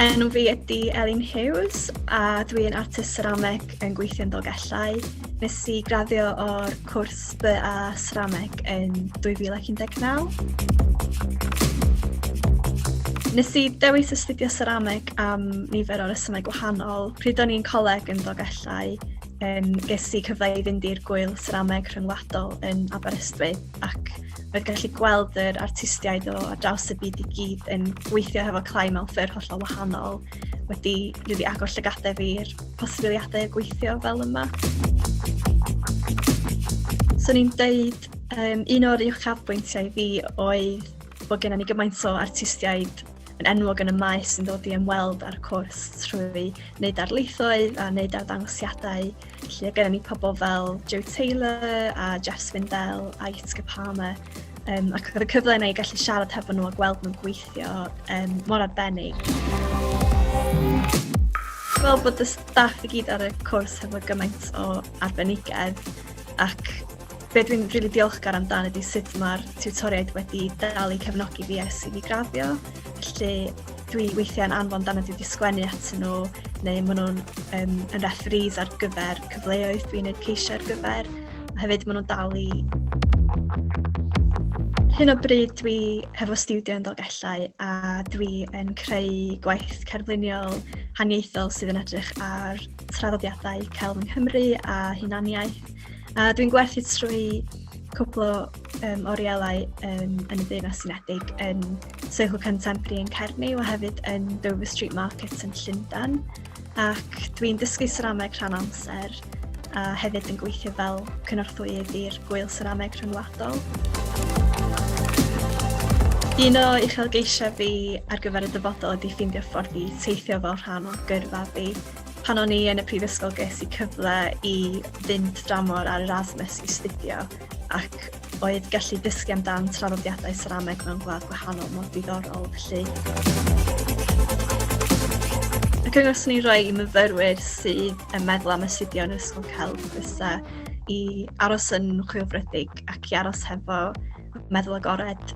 Enw fi ydy Elin Hughes a dwi'n artist cerameg yn gweithio yn Dolgellau. Nes i graddio o'r cwrs BA Cerameg yn 2019. Nes i dewis astudio cerameg am nifer o resymau gwahanol. Pryd o'n i'n coleg yn Dolgellau, um, ges i cyfle i fynd i'r gwyl cerameg rhyngwladol yn Aberystwyth. ac mae'n gallu gweld yr artistiaid o ar draws y byd i gyd yn gweithio hefo Clai mewn ffyrdd hollol wahanol, wedi rili agor llygadau fi i'r posibiliadau o gweithio fel yma. So ni'n deud, um, un o'r uchafbwyntiau fi oedd bod gennym ni gymaint o artistiaid yn enwog yn y maes sy'n dod i ymweld â'r cwrs trwy wneud darlithoedd a wneud arddangosiadau Felly, gyda ni pobl fel Joe Taylor a Jeff Swindell a Yitzka Palmer, um, ac oedd y cyfle yna i gallu siarad hefo nhw a gweld nhw'n gweithio um, mor arbennig. Fel bod y staff i gyd ar y cwrs hefo gymaint o arbenigedd ac be dwi'n rili really diolchgar amdano ydy sut mae'r tiwtoriaid wedi dal i cefnogi fi ers i fi graddio. Felly dwi weithiau'n anfon dan y dwi wedi sgwennu atyn nhw, neu maen nhw'n um, yn referees ar gyfer cyfleoedd dwi'n ei ceisio ar gyfer, a hefyd maen nhw'n dal i... Hyn o bryd dwi hefo studio yn Dolgellau a dwi yn creu gwaith cerfluniol haniaethol sydd yn edrych ar traddodiadau celf yng Nghymru a hunaniaeth. A dwi'n gwerthu trwy cwpl o um, orielau um, yn y Deyrnas Unedig yn Soho Contemporary yn Cernyw a hefyd yn Dover Street Market yn Llundain ac dwi'n dysgu serameg rhan amser a hefyd yn gweithio fel cynorthwyydd i'r Gwyl Serameg Rhyngwladol. Un o uchelgeisiau fi ar gyfer y dyfodol ydy ffeindio ffordd i teithio fel rhan o gyrfa fi. Pan o'n i yn y prifysgol ges i cyfle i fynd dramor ar Erasmus i studio ac oedd gallu dysgu amdan traddodiadau serameg mewn gwlad gwahanol mor diddorol felly. Y cyngor sy'n ei roi i myfyrwyr sydd yn meddwl am astudio yn Ysgol Celf fysa i aros yn chwilfrydig ac i aros hefo meddwl agored.